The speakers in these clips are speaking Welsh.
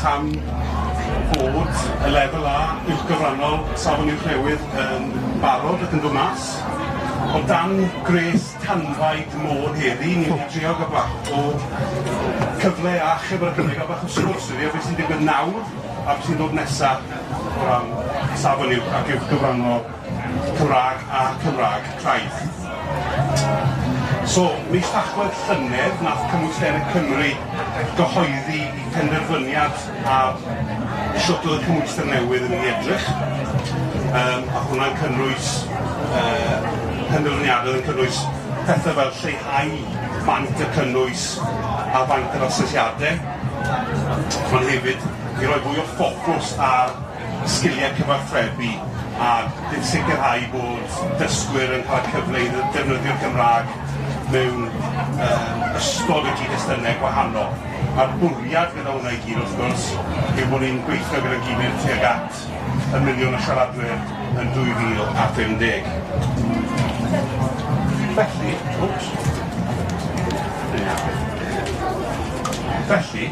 Tan bod y lefel A uwchgyfrannol Safon Uwch newydd yn barod ac yn dod mas, o dan gwres tanfaid Môn heddi, ni'n mynd i drio gael bach o cyfle a achub ar y cyfle i gael bach o sgwrs heddi ar beth sy'n digwydd nawr a beth sy'n dod nesa' o ran Safon Uwch ac uwchgyfrannol. Cymraeg a Cymraeg craidd. So, mis Tachwedd llynedd nath Cymru Senedd Cymru gyhoeddi 'i phenderfyniad ar shwt oedd y cymhwyster newydd yn mynd i edrych. Yym a hwnna'n cynnwys yy penderfyniadau yn cynnwys pethe fel lleihau maint y cynnwys a faint yr asesiade. Ond hefyd i roi fwy o ffocws ar sgiliau cyfathrebu a sicrhau bod dysgwyr yn cael y cyfle i ddefnyddio'r Gymraeg mewn ystod o gyd-destunau gwahanol. A'r bwriad gyda hwnna i gyd, wrth gwrs, yw bod ni'n gweithio gyda'n gilydd tuag at y miliwn o siaradwyr yn 2050. Felly,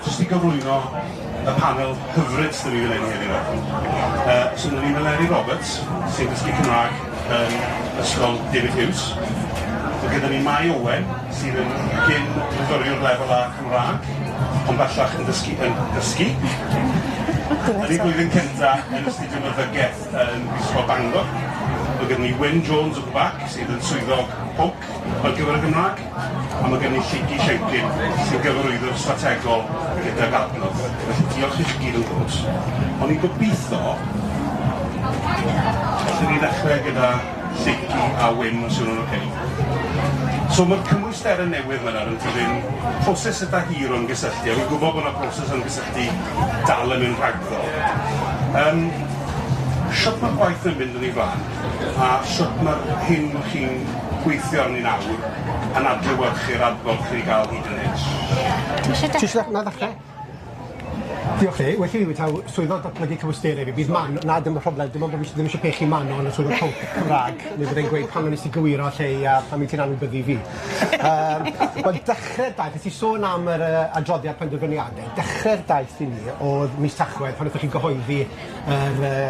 jyst i gyflwyno, y panel hyfryd sydd 'da ni fan hyn heddiw 'ma. Yy so ma' 'da ni Meleri Roberts sy'n dysgu Cymrâg yn Ysgol David Hughes. Ma' gyda ni Mai Owen sydd yn gyn fyfyriwr lefel A Cymrâg ond bellach yn dysgu yn dysgu yn ei flwyddyn cynta yn astudio Meddygeth yn Brifysgol Bangor. Ma' gyda ni Wyn Jones at the back sydd yn swyddog pwnc Ar gyfer y Gymraeg, a mae gen i Lleucu Siencyn, sy'n gyfarwyddwr strategol gydag Adnodd. Felly, diolch i chi gyd yn gwrs. O'n i'n gobeithio, allwn ni ddechrau gyda Lleucu a Wyn, os yw hwnna'n ocê. So, mae'r cymwysterau newydd yma nawr yn dilyn proses eitha hir o'n gysylltu, a fi'n gwybod bod yna broses o'n gysylltu dal yn mynd rhagddo. Yym, shwt mae'r gwaith yn mynd yn ei flaen? a shwt mae'r hyn chi'n gweithio arni nawr yn adlewyrchu'r adborth chi 'di ga'l hyd yn hyn? Ti isie dechre? Ti isie na ddechre? Diolch Lee, well i fi taw swyddog datblygu cymwysterau fi, bydd man- na dim y problem dim ond bo' fi sh- ddim isio pechu Manon yn y swyddfa pwnc Cymra'g neu bydde'n gweud pam wnest ti gywiro lle i a pam wyt ti'n anwybyddu fi. Yym wel dechre daeth nes i sôn am yr yy adroddiad penderfyniade dechre'r daith i ni o'dd mis Tachwedd pan nethon chi gyhoeddi yr yy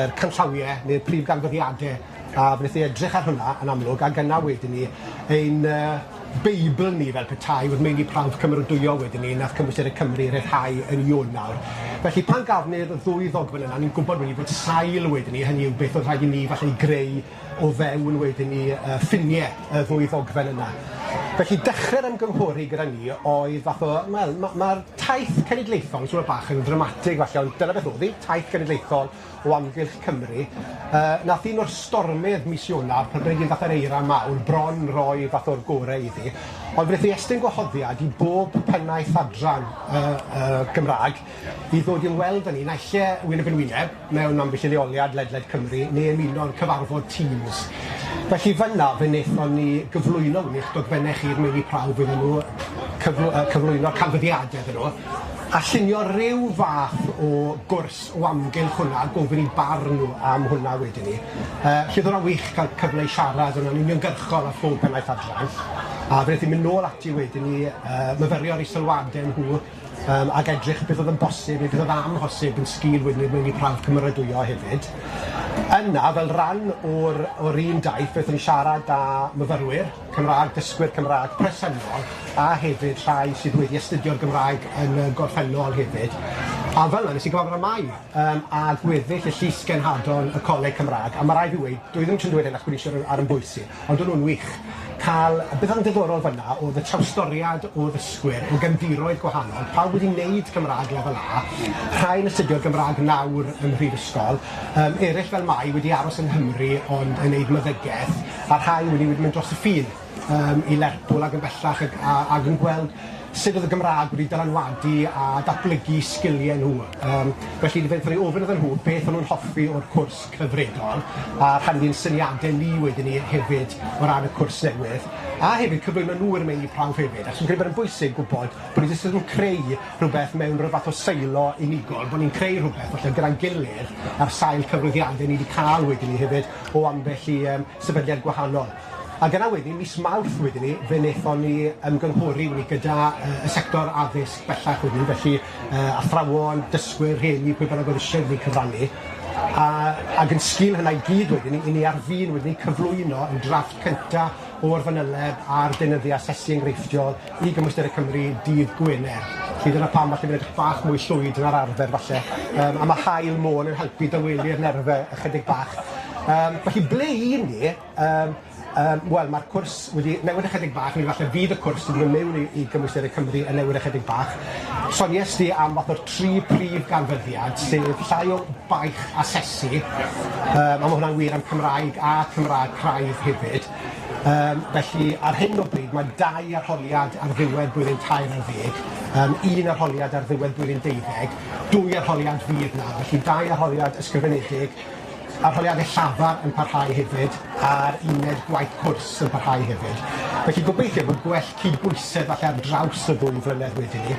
yr canllawie ne'r prif ganfyddiade a wneth i edrych ar hwnna yn amlwg ag yna wedyn 'ny ein yy beibl ni fel petai o'dd meini prawf cymerodwyol wedyn 'ny nath Cymwysterau Cymru ryddhau yn Ionawr felly pan gafon ni'r ddwy ddogfen yna ni'n gwbod wedyn 'ny bod sail wedyn 'ny hynny yw beth o'dd rhaid i ni falle 'i greu o fewn wedyn ni yy ffinie y ddwy ddogfen yna. Felly dechre'r ymgynghori gyda ni oedd fath o wel ma' ma'r taith cenedlaethol yn siŵr bach yn ddramatig falle ond dyna beth odd 'i, taith genedlaethol o amgylch Cymru yy nath un o'r stormydd mis Ionawr pan oedd 'i'n fath o'r eira mawr bron roi fath o'r gore iddi ond fe neth 'i estyn gwahoddiad i bob pennaeth adran yy yy Gymra'g I ddod i ymweld â ni, naill ai wyneb yn wyneb, mewn ambell i leoliad ledled Cymru, neu ymuno'r cyfarfod Teams. Felly fan'na fe wnaethon ni gyflwyno hwn i'ch dogfennau chi i'r meini prawf iddyn nhw, cyfl- yy cyflwyno'r canfyddiadau iddyn nhw, a llunio ryw fath o gwrs o amgylch hwnna, a gofyn eu barn nhw am hwnna wedyn 'ny. Yy felly o'dd hwnna'n wych ca'l cyfle i siarad yn yn uniongyrchol â phob pennaeth adran, a fe nethon ni mynd nôl ati wedyn i yy myfyrio ar eu sylwade nhw, Yym, ac edrych beth oedd yn bosib neu beth oedd amhosib yn sgil wynebu mewn i prawf cymeradwyo hefyd. Yna, fel rhan o'r o'r un daith, beth yn siarad â myfyrwyr Cymraeg, dysgwyr Cymraeg presennol, a hefyd rhai sydd wedi astudio'r Gymraeg yn y gorffennol hefyd. A fel 'na nes i gyfarfod â Mai, yym, a gweddill y Llys Genhadon y Coleg Cymraeg, a ma' rai' fi weud, dwi ddim jys yn dweud hyn achos bod fi isie roi ar 'yn bwys i, Odwn nhw'n wych. Cael... Beth oedd yn ddiddorol fanna oedd y trawstoriad o ddysgwyr o gefndiroedd gwahanol, pawb wedi neud Cymrâg Lefel A, rhai yn astudio'r Gymrâg nawr ym mhrifysgol, yym ereill fel mai wedi aros yng Nghymru ond yn neud myddygeth, a rhai wedi wedi mynd dros y ffin yym i Lerpwl ag yn bellach ag a ag yn gweld sud oedd y Gymrâg wedi dylanwadu a datblygu sgilie nhw. Yym felly fe- 'tho ni ofyn iddyn nhw beth o'n nhw'n hoffi o'r cwrs cyfredol, a rhannu'n syniade ni wedyn 'ny hefyd o ran y cwrs newydd, a hefyd cyflwyno nhw i'r meini prawf hefyd, achos fi'n credu bod e'n bwysig gwbod bo' ni jyst yn creu rhwbeth mewn ryw fath o silo unigol, bo' ni'n creu rhwbeth falle gyda'n gilydd ar sail cyfrifiade ni 'di ca'l wedyn 'ny hefyd o ambell i yym sefydliad gwahanol. Ac yna wedyn, mis Mawrth wedyn 'ny, fe nethon ni ymgynghori wedyn gyda yy y sector addysg bellach wedyn, felly yy athrawon, dysgwyr, rhieni, pwy bynnag o'dd isie wedyn 'ny cyfrannu, a ag yn sgil hynna i gyd wedyn 'ny, 'yn ni ar fin wedyn 'ny cyflwyno 'yn drafft cynta o'r fanyleb ar deunyddia asesu enghreifftiol i Gymwysterau Cymru dydd Gwener. Felly dyna pam falle fi'n edrych bach mwy llwyd na'r arfer falle, yym a ma' haul môn yn helpu dawelu'r nerfe ychydig bach. Yym felly ble 'yn ni? Yym yym wel ma'r cwrs wedi newid ychydig bach neu falle fydd y cwrs yn myn' miwn i i gymwysterau Cymru yn newid ychydig bach. Sonies di am fath o'r tri prif ganfyddiad sef llai o baich asesu yym a ma' hwnna'n wir am Cymraeg a Chymra'g craidd hefyd yym felly ar hyn o bryd ma' dau arholiad ar ddiwedd blwyddyn tair ar ddeg yym un arholiad ar ddiwedd blwyddyn deuddeg dwy arholiad fydd 'na felly dau arholiad ysgrifenedig Arholiadau llafar yn parhau hefyd a'r uned gwaith cwrs yn parhau hefyd. Felly gobeithio bod gwell cydbwysedd falle ar draws y ddwy flynedd wedyn 'ny.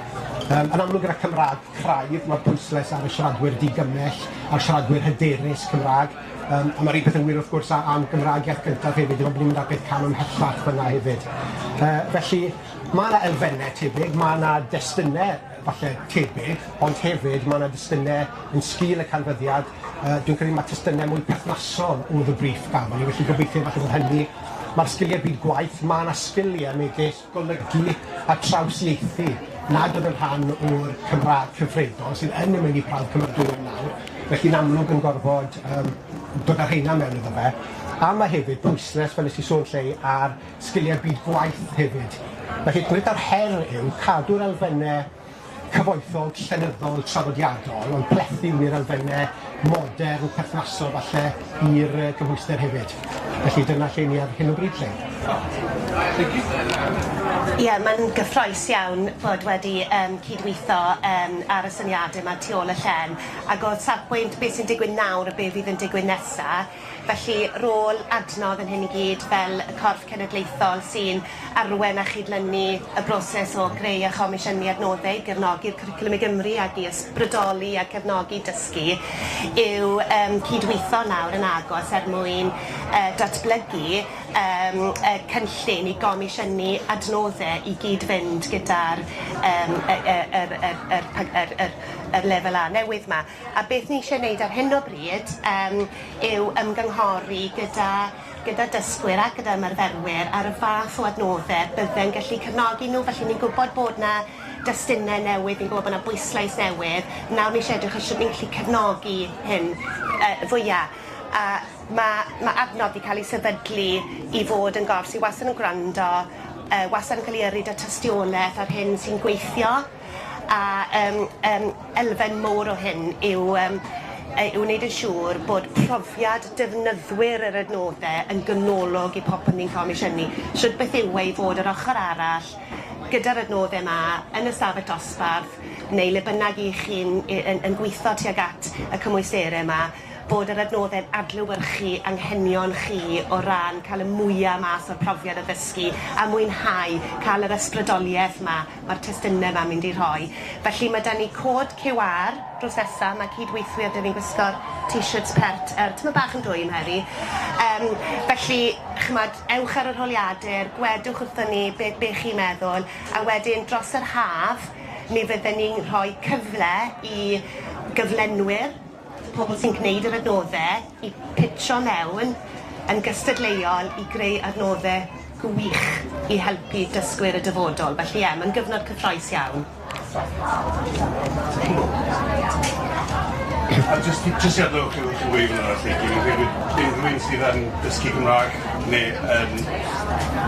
Yym yn amlwg gyda Cymraeg craidd ma'r pwyslais ar y siaradwyr digymell a'r siaradwyr hyderus Cymraeg yym a ma'r un peth yn wir wrth gwrs a- am Gymraeg iaith gyntaf hefyd dim ond bod ni'n mynd ar peth cam ymhellach fyn 'na hefyd. Yy felly ma' 'na elfenne tebyg ma' 'na destune falle tebyg, ond hefyd ma' 'na dystyne yn sgil y canfyddiad yy dwi'n credu ma' tystyne mwy perthnasol o'dd y briff gafon ni felly gobeithio falle bod hynny ma'r sgilie byd gwaith ma' 'na sgilie megis golygu a trawsieithu nad o'dd yn rhan o'r Cymra'g cyfredol sydd yn y meini prawf cymeradwyo nawr felly'n amlwg yn gorfod yym dod â rheina mewn iddo fe a ma' hefyd pwyslais fel nes i sôn 'lly ar sgiliau byd gwaith hefyd. Felly, beth yw'r her yw cadw'r elfenne cyfoethog, llenyddol, traddodiadol, ond plethu wneud elfenne modern, perthnasol falle i'r yy cymhwyster hefyd. Felly dyna lle ni ar hyn o bryd 'lly. Ie, mae'n gyffrous iawn bod wedi yym cydweithio yym ar y syniade 'ma tu ôl y llen, ag o safbwynt be' sy'n digwydd nawr a be' fydd yn digwydd nesa, Felly, rôl adnodd yn hyn i gyd fel y corff cenedlaethol sy'n arwain a chydlynu y broses o greu a chomisiynu adnoddau i gefnogi'r Cwricwlwm i Gymru ac i ysbrydoli a cefnogi dysgu yw yym cyd-weithio nawr yn agos er mwyn yy datblygu yym y cynllun i gomisiynu adnoddau i gyd-fynd gyda'r yym y y yr yr yr yr yr lefel A newydd 'ma. A beth ni eisiau wneud ar hyn o bryd yym yw ymgynghori gyda gyda dysgwyr ac gyda ymarferwyr ar y fath o adnodde bydde'n gallu cefnogi nhw felly ni'n gwybod bod 'na destunne newydd ni'n gwybod bod 'na bwyslais newydd nawr ni isie edrych ar shwt ni'n gallu cefnogi hyn yy fwya a ma' ma' adnodd 'di ca'l ei sefydlu i fod yn gorff sy wastad yn gwrando yy wastad yn ca'l i yrru 'da tystioleth ar hyn sy'n gweithio. A yym yym elfen mowr o hyn yw yym yy yw wneud yn siŵr bod profiad defnyddwyr yr adnodde yn ganolog i popeth ni'n comisiynu. Shwd beth yw e i fod yr ochor arall gyda'r adnodde 'ma yn y stafell dosbarth neu le bynnag 'ych chi'n yy yn yn gwitho tuag at y cymwystere 'ma bod yr adnoddau'n adlewyrchu anghenion chi o ran cael y mwya' mas o'r profiad o ddysgu a mwynhau, cael yr ysbrydoliaeth 'ma mae'r testunau 'ma'n mynd i rhoi. Felly ma' 'da ni cod QR drws nesa, ma' cyd-weithwyr 'da fi'n gwisgo'r t-shirts pert yy tymed bach yn dwym heddi yym felly ch'mod ewch ar yr holiadur, gwedwch wrthon ni be' be' chi'n meddwl a wedyn dros yr haf mi fydden ni'n rhoi cyfle i gyflenwyr pobl sy'n gwneud yr adnodde i pitro mewn yn gystadleuol i greu adnodde gwych i helpu dysgwyr y dyfodol. Felly ie, mae'n gyfnod cyffrous iawn. A jyst i jyst i adnewch chi wrth ddweud hwnna felly, dwi'n credu unrhywun sydd yn dysgu Cymraeg neu yn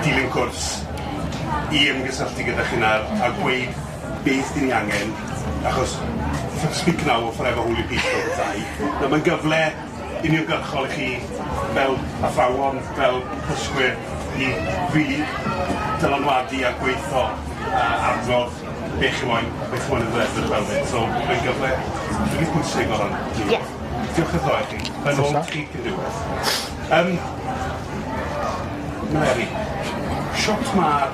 dilyn cwrs i ymgysylltu gyda chi'n ar a gweud Beth dyn ni angen, achos speak now or forever hold your peace fel petai. Nawr mae'n gyfle uniongyrchol i chi fel athrawon, fel dysgwyr i rili dylanwadu a gweitho a adrodd be' chi moyn a beth chi moyn iddo fe edrych fel 'fyd. So mae'n gyfle rili pwysig o ran ni. Ie. Diolch byth ddoe chi. Yn ôl chi cyn diwedd. Yym. Meleri. Shwt ma'r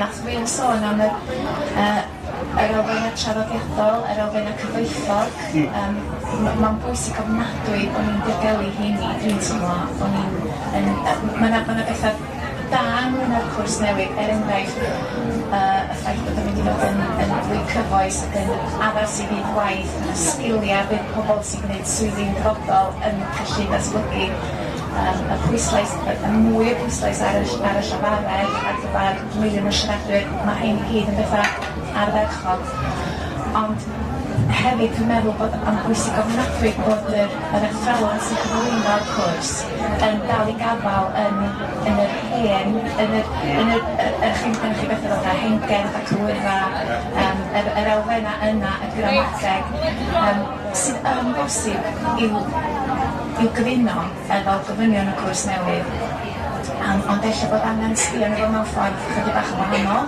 Nath Wil sôn am yr yy yr elfenau traddodiadol, yr elfenau cyfoethog, yym m- ma'n bwysig ofnadwy bo' ni'n diogelu rheini, dwi'n teimlo, bo' ni'n yn yy m- ma' 'na ma' 'na betha da ynglŷn â'r cwrs newydd, er enghraifft yy y ffaith bod o'n mynd i fod yn yn fwy cyfoes ac yn addas i fyd waith, ma' 'na sgilia bydd pobol sy'n gneud swyddi'n dyfodol yn gallu datblygu. Mae'r y pwyslais y y mwy o pwyslais ar y ll- ar y llafaredd ar gyfar miliwn o siaradwyr ma' rhein i gyd yn betha ardderchog ond hefyd dwi'n meddwl bod o'n bwysig ofnadwy bod yr yr athrawon sy'n cyflwyno'r cwrs yn dal i gafal yn yn yr hen yn yr yn yr yy yy chi'n gynnoch chi bethe fatha hengen a cywira yym yr yr elfenna yna y gramadeg yym sydd yn bosib i'w i'w gyfuno efo gofynion y cwrs newydd yym ond ella bod angen sbio arno fo mewn ffordd chydig bach yn wahanol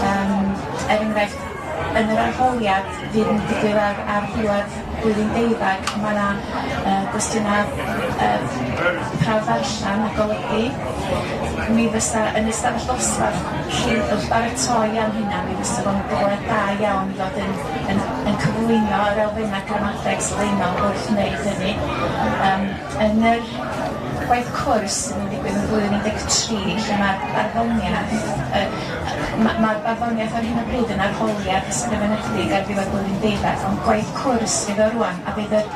yym er enghraifft yn yr arholiad fydd yn digwydd ar ar ddiwedd blwyddyn deuddag ma' 'na yy gwestiyna yy prawf ddarllen a golygu mi fysa yn ystafell ddosbarth lle wrth baratoi am hynna mi fysa fo'n gyfle da iawn i fod yn yn yn cyflwyno yr elfennau gramadeg sylfaenol wrth wneud hynny. Yym yn yr gwaith cwrs sydd yn digwydd yn 2013 lle mae'r barddoniaeth yy ma' ma'r barddoniaeth ar hyn o bryd yn arholiad ysgrifenedig ar ddiwedd blwyddyn deuddag ond gwaith cwrs fydd o rŵan a bydd yr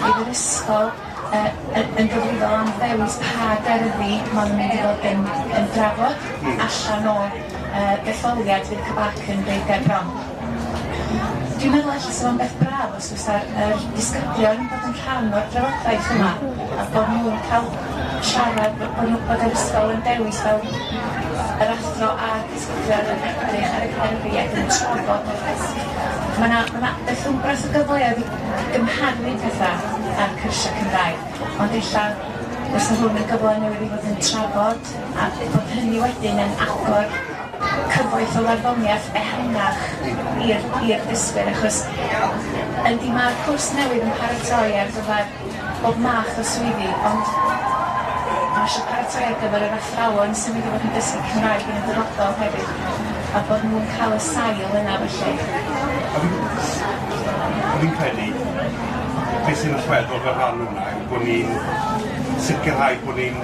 bydd yr ysgol yy yy yn gyfrifol am ddewis pa gerddi maen nhw'n mynd i fod yn yn drafod allan o yy detholiad fydd CCABAC yn roid gerbron. Dwi'n meddwl ella sa fo'n beth braf os fysa yr disgyblion yn bod yn rhan o'r drafodaeth yma a bod nhw'n cael siarad bo- bo' nhw bod yr ysgol yn dewis fel yr athro a'r disgyblion yn edrych ar y gerddi ac yn trafod y risg. Ma' 'na ma' 'na beth wmbrath o gyfleoedd i i gymharu petha a'r cyrsia Cymraeg ond ella fysa hwn yn gyfle newydd i fod yn trafod a bod hynny wedyn yn agor cyfoeth o farddoniaeth ehangach i'r i'r dysgwyr achos yndi ma'r cwrs newydd yn paratoi ar gyfer bob math o swyddi ond ma' isio paratoi ar gyfer yr athrawon sy'n mynd i fod yn dysgu Cymraeg yn y dyfodol hefyd a bod nhw'n ca'l y sail yna felly. A fi'n a fi'n credu be' sy'n allweddol fel rhan o wnna yw bo' ni'n sicirhau bo' ni'n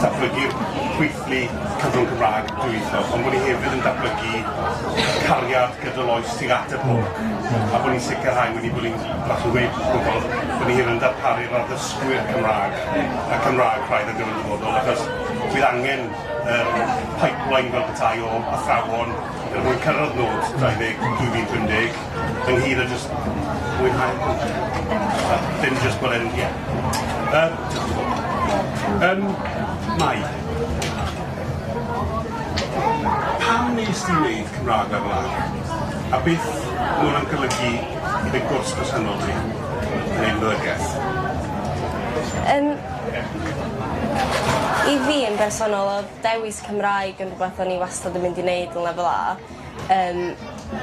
datblygu'r gweithlu Ni Cyfrwng Cymraeg dwyieithog, ond bod ni hefyd yn datblygu cariad gydol oes tuag at y pwnc, a bod ni'n sicrhau wedi bod ni'n fel chi'n gweud wrth bobl, bod ni hefyd yn darparu'r addysgwyr Cymraeg y Cymraeg braidd ar gyfer y dyfodol, achos bydd angen yr pipeline fel petai o athrawon er mwyn cyrraedd nod 20 2050. Yng Nghyr a jyst mwynhau. A dim jyst bod e'n, ie. Yy Ym Mai. Pam wnest ti wneud Cymraeg lefel A? A beth ma' hwnna'n golygu i dy gwrs presennol di yn ein Lyfrgell? Yym i fi yn bersonol o'dd dewis Cymraeg yn rhwbeth o'n i wastad yn mynd i neud yn lefel A. Yym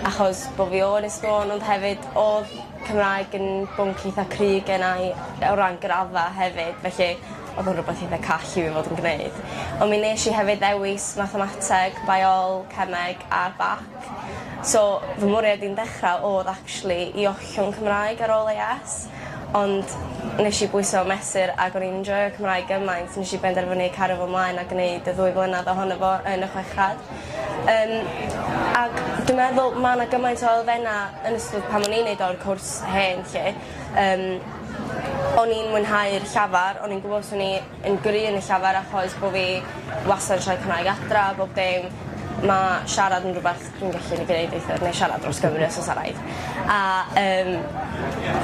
achos bo' fi o Ynys Môn ond hefyd odd Cymraeg yn bwnc eitha cryf gennai o ran graddfa hefyd felly odd o'n rwbeth eitha call i fi fod yn gneud. On' mi nesh i hefyd ddewis mathemateg biol cemeg a bac so fy mwriad i'n dechra odd actually i ollwng Cymraeg ar ôl Ay Ess ond nesh i bwyso a mesur ag o'n i'n enjoio Cymraeg gymaint nesh i benderfynu cario fo mlaen a gneud y ddwy flynadd ohono fo yn y chweched. Yym ag dwi meddwl ma' 'na gymaint o elfenna' yn ystod pan o'n i'n neud o o'r cwrs hen 'lly yym o'n i'n mwynhau'r llafar o'n i'n gwbo swn i yn gry' yn y llafar achos bo' fi wastad yn siarad Cymraeg adra a bob dim ma' siarad yn rwbath dwi'n gallu neud weithiau neu siarad dros Gymru os o's a' raid a yym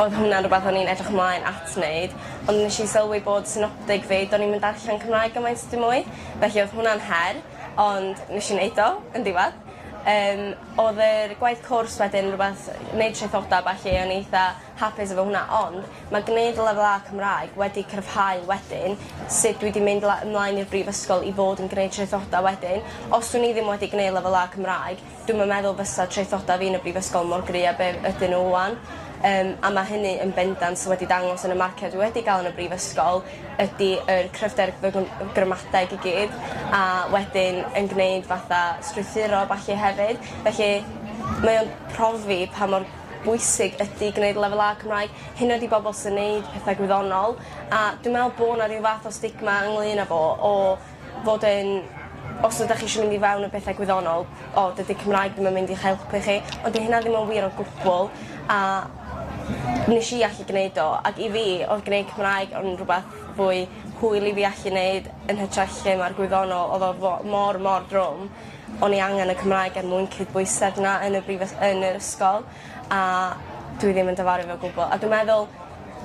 odd hwnna'n rwbath o'n i'n edrych mlaen at neud ond nesh i sylwi bod synopdeg fi do'n i'm yn darllen Cymraeg gymaint dim mwy felly odd hwnna'n her. Ond nesh i neud o yn diwadd. Yym odd yr gwaith cwrs wedyn rwbeth neud traethoda a ballu o'n i eitha hapus efo hwnna ond ma' gneud lefel A Cymraeg wedi cryfhau wedyn sut dwi 'di mynd la- ymlaen i'r brifysgol i fod yn gneud traethoda wedyn. Os swn i ddim wedi gneu' lefel A Cymraeg Dwi'm yn meddwl fysa traethoda fi yn y brifysgol mor gry a be' ydyn n'w ŵan yym a ma' hynny yn bendant wedi dangos yn y marciau dwi wedi ga'l yn y brifysgol ydi yr cryfder fy gw- yy gramadeg i gyd a wedyn yn gneud fatha strwythuro a ballu hefyd felly mae o'n profi pa mor bwysig ydi gneud lefel A Cymraeg hyd yn oed i bobol sy'n neud petha gwyddonol a dwi me'wl bo' 'na ryw fath o stigma ynglŷn â fo o fod yn os ydach chi isio mynd i fewn a pethe gwyddonol o dydi Cymraeg ddim yn mynd i'ch helpu chi ond 'di hynna ddim yn wir o gwbwl a nesh i allu gneud o ac i fi odd gneud Cymraeg yn rwbath fwy hwyl i fi allu neud yn hytrach lle ma'r gwyddonol odd o fo- mor mor drwm o'n i angen y Cymraeg er mwyn cydbwysedd 'na yn y brifys- yn yr ysgol a dwi ddim yn difaru fe o gwbwl a dwi meddwl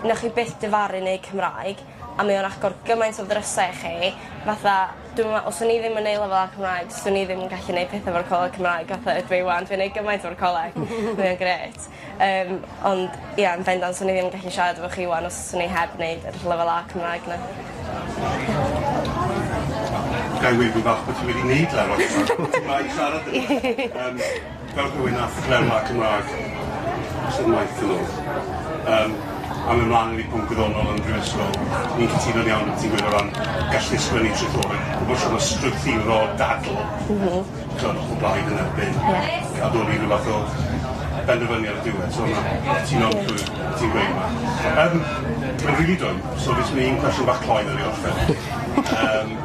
newch chi byth difaru neud Cymraeg a mae o'n agor gymaint o ddrysa i chi fatha dwi'm yn me'wl os o'n i ddim yn neu' lefel A Cymraeg swn i ddim yn gallu neud petha efo'r coleg Cymraeg fatha ydw i 'wan dwi'n neud gymaint efo'r coleg. Mae o'n grêt. Yym ond ie yn bendant swn i ddim yn gallu siarad efo chi 'wan os swn i heb neud yr lefel A Cymraeg 'na. Gai weud rwbath bo' ti wedi neud lefel Cymraeg? Ti'n dda i siarad 'da fi. Yym. Fel rhywun â threfn a Cymraeg sydd maith yn ôl, yym, a mynd mlaen yn ei bwnc wyddonol yn y Brifysgol, ni'n cytuno'n iawn beth ti'n gweud o ran gallu ysgrifennu traethawd, a bod siŵr o strwythuro dadl... M-hm. ...t'od o'ch o blaid yn erbyn... Ie. ...a dod i ryw fath o benderfyniad ar y diwedd, so na, cytuno'n llwyr beth ti'n gweud yma. Yym, ma'n rili dwym, so fi jys myn' i un cwestiwn bach cloi 'wn i orffen. Yym.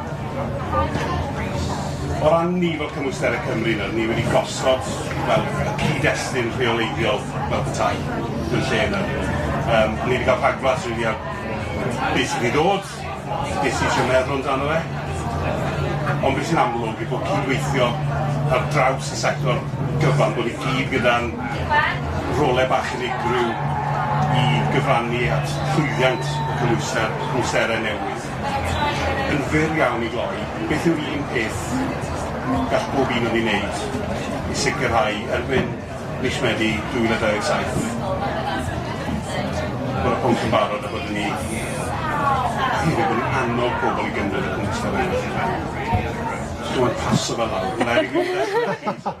O ran ni fel Cymwysterau Cymru nawr, ni wedi gosod fel y cyd-destun rheoleiddiol fel petai yn lle nawr. Um, ni wedi cael rhagflas rili ar beth sydd wedi dod, beth sy'n siarad meddwl amdano fe. Ond beth sy'n amlwg yw bod cydweithio ar draws y sector gyfan, bod ni gyd gyda'n rolau bach unigryw i gyfrannu at llwyddiant y cymwyster, cymwysterau newydd. Yn fyr iawn i gloi, beth yw'r un peth gall bob un o ni wneud i sicrhau erbyn mis Medi 2027 bod y pwnc yn barod a bod yn ni hefyd bod ni'n annog pobl i gymryd y pwnc ysgafennu allan. Jyst rhoi paso fe lawr.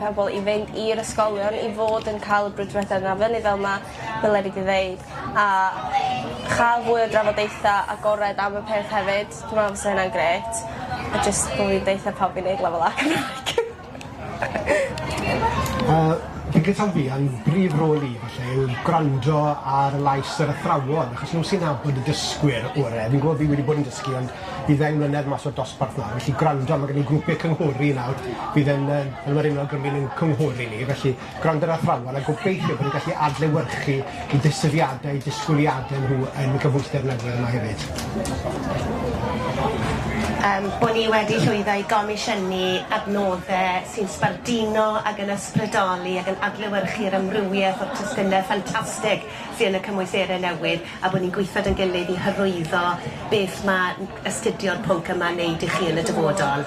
pobl i fynd i'r ysgolion i fod yn ca'l y brwdfrydedd yna fyny fel ma' Mileri 'di ddeud a cha'l fwy o drafodaetha agored am y peth hefyd dwi me'wl fysa hynna'n grêt a jyst bo' fi'n deutha pawb i neud lefel A Cymraeg. Yy fi'n credu taw fi a'n brif rôl i falle yw gwrando ar lais yr athrawon achos n'w sy'n nabod y dysgwyr ore fi'n gw'o' fi wedi bod yn dysgu ond i ddeng mlynedd mas o'r dosbarth nawr felly gwrando ma' gen i grwpie cynghori nawr fydd yn yy on' ma'r 'yn wlad Gymru'n ein cynghori ni felly gwrando ar athrawon a gobeithio bo' ni'n gallu adlewyrchu 'u disgyriade a'u disgwyliade nhw yn y gymhwyster newydd yma hefyd. Yym bo' ni wedi llwyddo i gomisiynu adnodde sy'n sbarduno ag yn ysbrydoli ag yn adlewyrchu'r amrywieth o'r testune ffantastig sy yn y cymwyserau newydd a bod ni'n gweithio 'da'n gilydd i hyrwyddo beth mae n- astudio y pwnc yma'n neud i chi yn y dyfodol.